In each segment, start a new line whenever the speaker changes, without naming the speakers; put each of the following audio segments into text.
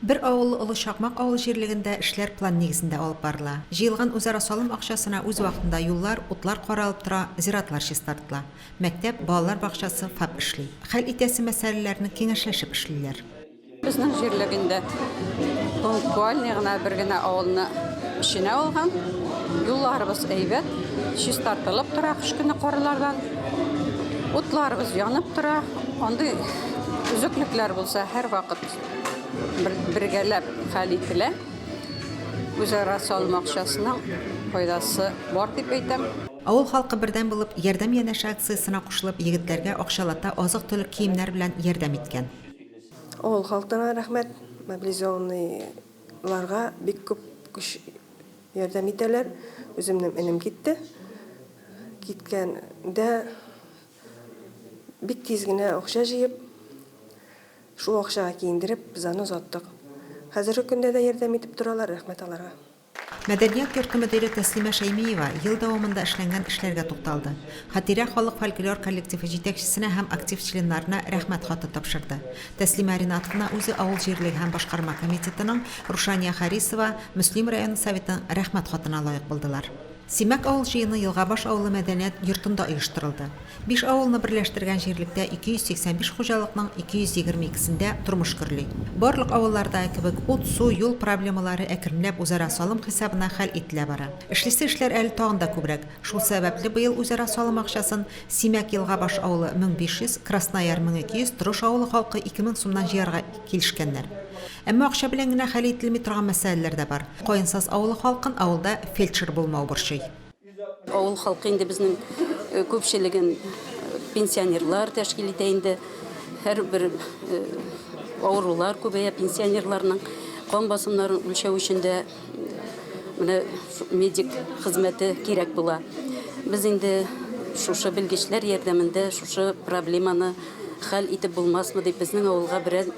Бер авыллы Олы Чакмак авыл җирлегендә эшләр план нигезендә алып барыла. Җыелган үзара салым акчасына үз вакытында юллар, утлар каралып тора, зиратлар чистартыла. Мәктәп, балалар бакчасы, ФАП эшли. Хәл итәсе мәсьәләләрне киңәшләшеп эшлиләр. Безнең җирлегендә пунктуальный гына бер генә авылны эченә алган. Юлларыбыз әйбәт, чистартылып тора кыш көне карлардан. Утларыбыз янып тора. Андый өзеклекләр булса, һәрвакыт. бергәләп хәл ителә. Үзара салым акчасының файдасы бар дип әйтәм. Авыл халкы бердәм булып, Ярдәм янәше акциясенә кушылып, егетләргә акчалата азык-төлек киемнәр белән ярдәм иткән. Авыл халкына рәхмәт, мобилизованныйларга бик күп көч ярдәм итәләр. Үземнең энем китте. Киткәндә бик тиз генә акча җыеп. Шул акчага киендереп, занос аттык. Хәзерге көндә дә ярдәм итеп торалар, рәхмәт аларга. Мәдәният йорты мөдире Тәслимә Шәймиева ел дәвамында эшләнгән эшләргә тукталды. Хатирә халык фольклор коллективы җитәкчесенә һәм актив членнарына Рәхмәт хаты тапшырды. Тәслимә Ринатовна үзе авыл җирлеге һәм башкарма комитетының, Рушания Харисова, Мөслим районы Советының Рәхмәт хатына лаек булдылар. Симәк авыл җыены Елгабаш авылы мәдәният йортында оештырылды. Биш авылны берләштергән җирлектә 285 хуҗалыкның 222-сендә тормыш гөрли. Барлык авыллардагы кебек, ут, су, юл проблемалары әкренләп үзара салым хисабына хәл ителә бара. Эшлисе эшләр әле тагын да күбрәк. Шул сәбәпле быел үзара салым акчасын Симәк Елгабаш авылы 1500, Краснояр 1200, Трош авылы халкы 2000 сумнан җыярга килешкәннәр. Әмма акча белән генә хәл ителми торган мәсьәләләр дә бар. Каенсаз авылы халкын авылда фельдшер булмау борчый. Авыл халкы инде безнең күпчелеген пенсионерлар тәшкил итә инде. Һәрбер авырулар күбәя пенсионерларның. Кан басымнарын үлчәү өчен дә менә медик хезмәте кирәк була. Без инде шушы белгечләр ярдәмендә шушы проблеманы хәл итеп булмасмы дип, безнең авылга берәр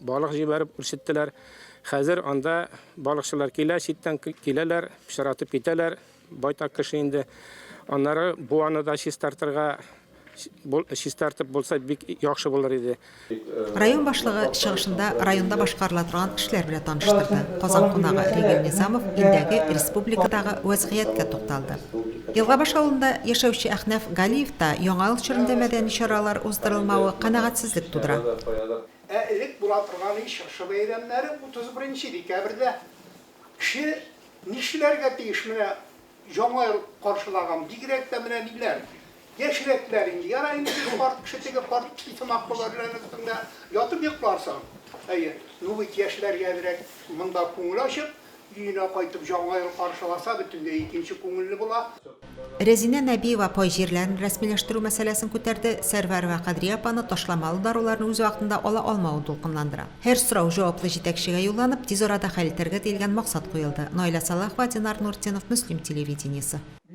Балык җибәреп үрчеттеләр. Хәзер анда балыкчылар килә, читтән киләләр, пычратып китәләр. Байтак кеше инде. Аннары буаны да чистартырга, чистартып булса, бик яхшы булыр иде. Район башлыгы чыгышында районда башкарыла торган эшләр белән таныштырды. Казан кунагы Ревил Низамов илдәге, республикадагы вәзгыятькә тукталды. Елгабаш авылында яшәүче Әхнәф Галиевта яңа ел чорында мәдәни чаралар уздырылмавы канәгатьсезлек тудыра. Ә элек була торган и чыршы бәйрәмнәре 31 декабрьдә. Кеше нишләргә тиеш менә яңа ел каршылаган, бигрәк тә менә ниләр, яшьрәкләр инде, ярар инде теге карт кеше, теге карт кеше сымак булыр әле аның өстендә ятып йокларсың. Әйе, ну бит яшьләргә әзрәк монда күңел ачып, Өенә кайтып Җаңа ел каршыласа, бөтенләй икенче күңелле була. Рәзинә Нәбиева пай җирләрен рәсмиләштерү мәсьәләсен күтәрде, Сәрвәр вә Кадрия апаны ташламалы даруларны үз вакытында ала алмавы дулкынландыра. Һәр сорау җаваплы җитәкчегә юлланып, тиз арада хәл итәргә диелгән максат куелды, Наилә Сәлахова, Динар Нуртдинов, Мөслим телевидениесе.